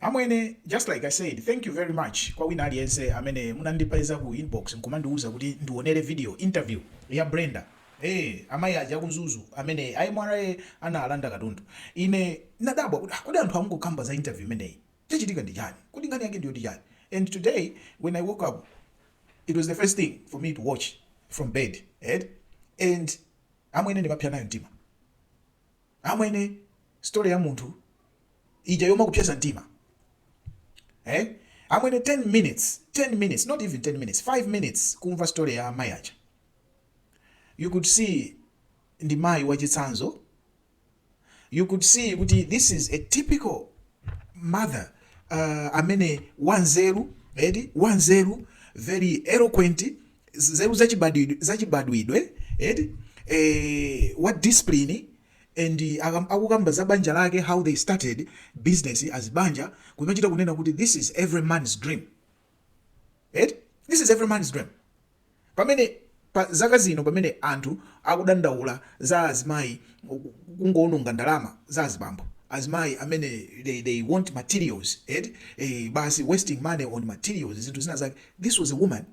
Amwene just like I said thank you very much kwa wina aliyense amene munandipeza ku inbox nkumandiuza kuti ndionere video interview ya Brenda eh amayi aja ku Mzuzu amene a MRA analanda katundu ine nadabwa kuti ah, kodi anthu amukukamba za interview imeneyi chachitika ndi chani kuti nkhani yake ndiyo ndi chani and today when I woke up it was the first thing for me to watch from bed eh? and amwene ndimapsa nayo mtima Amwene story ya munthu ija yomakupsetsa mtima eh? Amwene 10 minutes, 10 minutes, not even 10 minutes, 5 minutes kumva story ya amayi aja. You could see ndi mayi wachitsanzo. You could see kuti this is a typical mother uh, amene wanzeru eti wanzeru very eloquent nzeru zachibadwidwe zachibadwidwe eti eh, what discipline and akam- akukamba za banja lake how they started business as banja kumachita kunena kuti this is every man's dream eti this is every man's dream pamene pa zaka zino pamene anthu akudandaula za azimayi kungoononga ndalama za azibambo azimayi amene they, they want materials eti eh, basi wasting money on materials zinthu zina zake this was a woman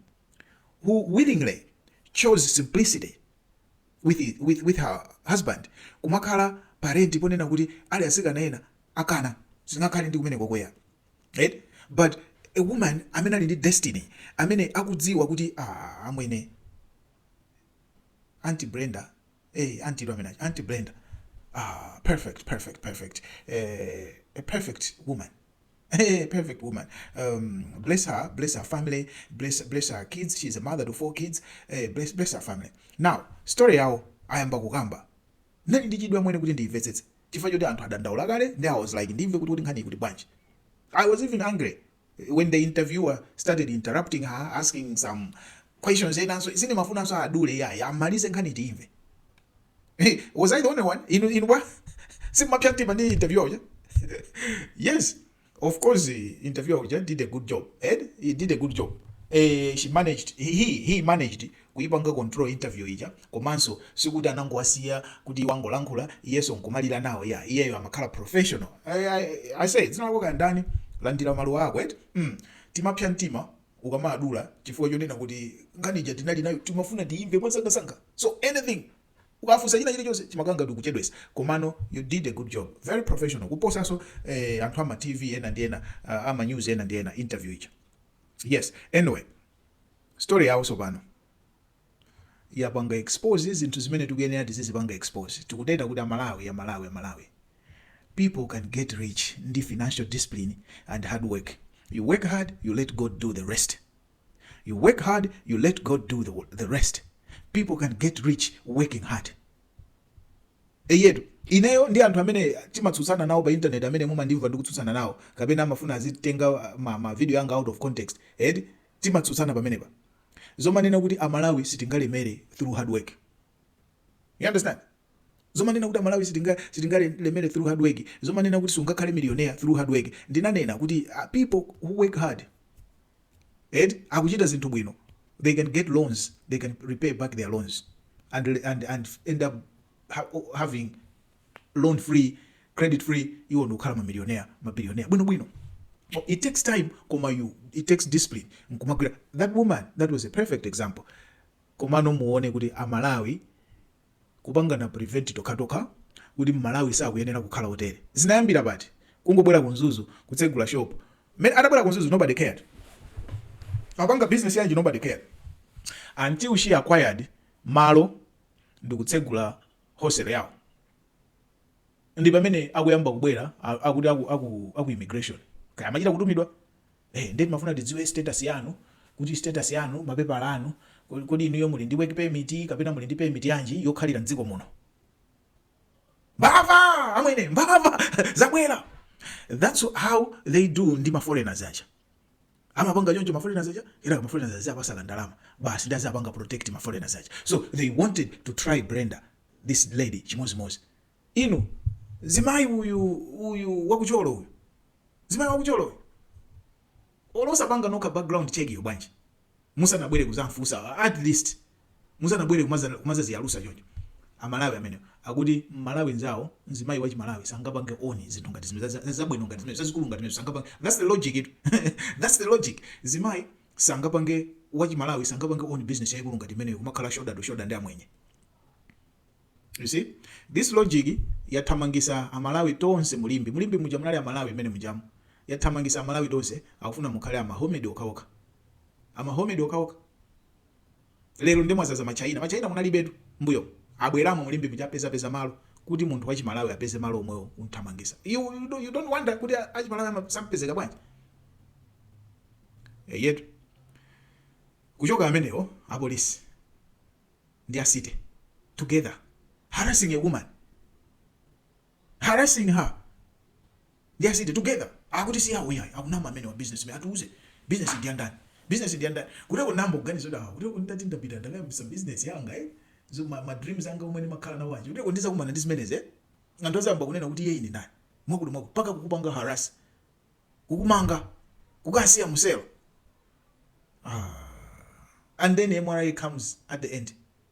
who willingly chose simplicity with, with, with her husband kumakhala pa rent ponena kuti ali atsikana ena akanazinga khale ndi kumene kukweya right but a woman amene ali ndi destiny amene akudziwa kuti ah, amwene anti brenda hey, eh, anti domina anti brenda ah, perfect perfect perfect eh, a perfect woman Hey, perfect woman. Um, bless her, bless her family, bless bless her kids. She's a mother to four kids. Hey, bless bless her family. Now, story yawo ayamba kukamba. Ndinali ndi chidwi amwene kuti ndiyimvetsetse. Chifukwa choti anthu adandaula kale and I was like ndimve kuti kuti nkhani kuti bwanji. I was even angry when the interviewer started interrupting her asking some questions enanso ine mafunso adule yayi amalize nkhani tiyimve. Hey, was I the only one? Inu, inu bwa? Simumapsa mtima ndi interviewer uja? yes, of course, eh, interviewer uja did a good job. Eti, he did a good job. Eh, she managed, he, he he managed kuipanga control interview ija komanso sikuti anangowasiya kuti azingolankhula iyenso nkumalira nawo ya iyeyo amakhala professional I, I, aise dzina lako kaya ndani landira maluwa ako eti mm. timapsa mtima ukamawadula chifukwa chonena kuti nkhani ija tinali nayo timafuna tiimve mwamsangamsanga so anything ukafunsa china chilichonse chimakhala ngati ukuchedwesa komano you did a good job very professional kuposanso eh, anthu ama tv ena ndi ena ah, ama news ena ndi ena interview ija yes anyway story yawo tsopano yapanga expose zinthu zimene tikuyenera tizizipanga expose tikunena kuti amalawi amalawi amalawi people can get rich ndi financial discipline and hard work you work hard you let god do the rest you work hard you let god do the, the rest people can get rich working hard eyetu ineyo ndi anthu amene timatsutsana nawo pa internet amene mumandimva ndikutsutsana nawo kapena amafuna azitenga ma, ma video anga out of context eti Timatsutsana pamenepa zomanena kuti amalawi sitingalemere through hard work you understand zomanena kuti amalawi sitinga sitingalemere through hard work zomanena kuti sungakhale millionaire through hard work ndinanena kuti ah, people who work hard eti akuchita zinthu bwino they can get loans they can repay back their loans and, and, and end up having loan free credit free iwo nkukhala mamilionea mabilionea bwinobwino it takes time koma you it takes discipline nkumagwira that woman that was a perfect example komano muone kuti amalawi kupangana prevent tokhatokha kuti mmalawi sakuyenera kukhala hotel zinayambira pati kungobwera ku Mzuzu kutsegula shop mmene atabwera ku Mzuzu nobody cared apanga business yanji nobody cared until she acquired malo ndikutsegula hostel yawo ndipamene akuyamba kubwera akuti aku, aku, aku immigration kaya amachita kutumidwa eh, nde timafuna tidziwe status yanu kuti status yanu mapepala anu kodi inuyo muli ndi work permit kapena muli ndi permit yanji yokhalira mdziko muno mbava amwene mbava zabwera that's how they do ndi ma foreigners aja amapanga choncho ma foreigners aja kenaka ma foreigners aziwapatsako ndalama basi ndi aziwapanga protect ma foreigners aja so they wanted to try Brenda this lady chimodzimodzi inu mzimayi uyu uyu waku Thyolo uyu mzimayi waku Thyolo uyu osapangako nokha background check yo bwanji musanabwere kuzamfunsa at least Musanabwere kumazaziyalusa choncho amalawi amenewo akuti mmalawi nzawo mzimayi wachimalawi sangapange own zinthu ngati zimenezo zabwino ngati zimenezo zazikulu ngati zimenezo sangapange that's the logic tu that's the logic mzimayi sangapange wachimalawi sangapange own business yaikulu ngati imeneyo kumakhala shoulder to shoulder ndi amwenye you see this logic yathamangisa amalawi tonse mu Limbe mu Limbe muja munali amalawi mmene mujamu yathamangisa amalawi tonse akufuna mukhale amahomedi okhaokha amahomedi okhaokha lero nde mwazaza ma china ma china munalibetu mbuyomu abweramo mu limbe muja apeza peza malo kuti munthu wa chimalawi apeze malo omwewo kumthamangisa you, you, don't, you don't wonder kuti a chimalawi ama- sampezeka bwanji eyetu kuchoka amenewo apolisi ndi a city together harassing a woman harassing her and they are sitting together akuti si awo yayi akunama amenewa business imeneyi atiuze business ndi yandani business ndi yandani kuteroko n'nayamba kuganiza kuti awa kuteroko nditati ndapita ndakayambisa business yanga eh zo ma, ma dreams anga omwe ndimakhala nawo aja kuteroko ndizakumana ndi zimenezi eh anthu azayamba kunena kuti iyeyu ndi ndani mwakuti mwakuti mpaka kukupanga harass kukumanga kukasiya muselo ah. and then MRA comes at the end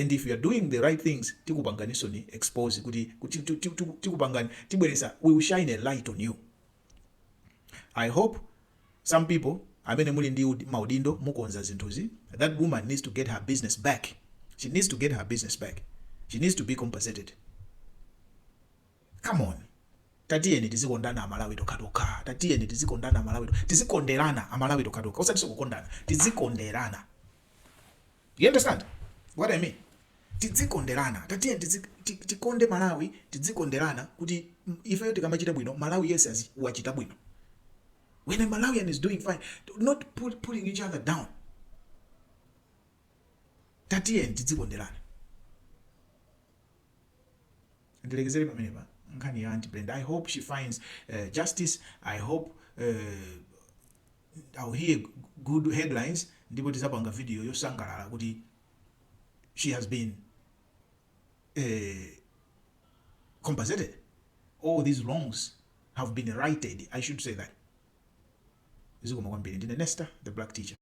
and if you're doing the right things tikupanganinsoni expose kuti tikupangani tibweresa we will shine a light on you i hope some people amene muli ndi maudindo mukonza zinthuzi that woman needs to get her business back she needs to get her business back she needs to be compensated come on tatiyeni tizikondana amalawi tokhatokha tatiyeni tizikondana amalawi tizikonderana amalawi tokhatokha osati zokukondana tizikonderana You understand what I mean? Tidzikondelana, tatiyeni tidzi, ti, tikonde Malawi, tidzikondelana kuti mm, ifeyo tikamachita bwino, Malawi yense wachita bwino. When a Malawian is doing fine, not pull, pulling each other down. Tatiyeni tidzikondelana. Ndilekezere pamenepa nkhani ya Auntie Brenda. I hope she finds uh, justice. I hope uh, I'll hear good headlines ndipo tizapanga video yosangalala kuti she has been eh, compensated all these wrongs have been righted I should say that zikomo kwambiri ndine Nesta the black teacher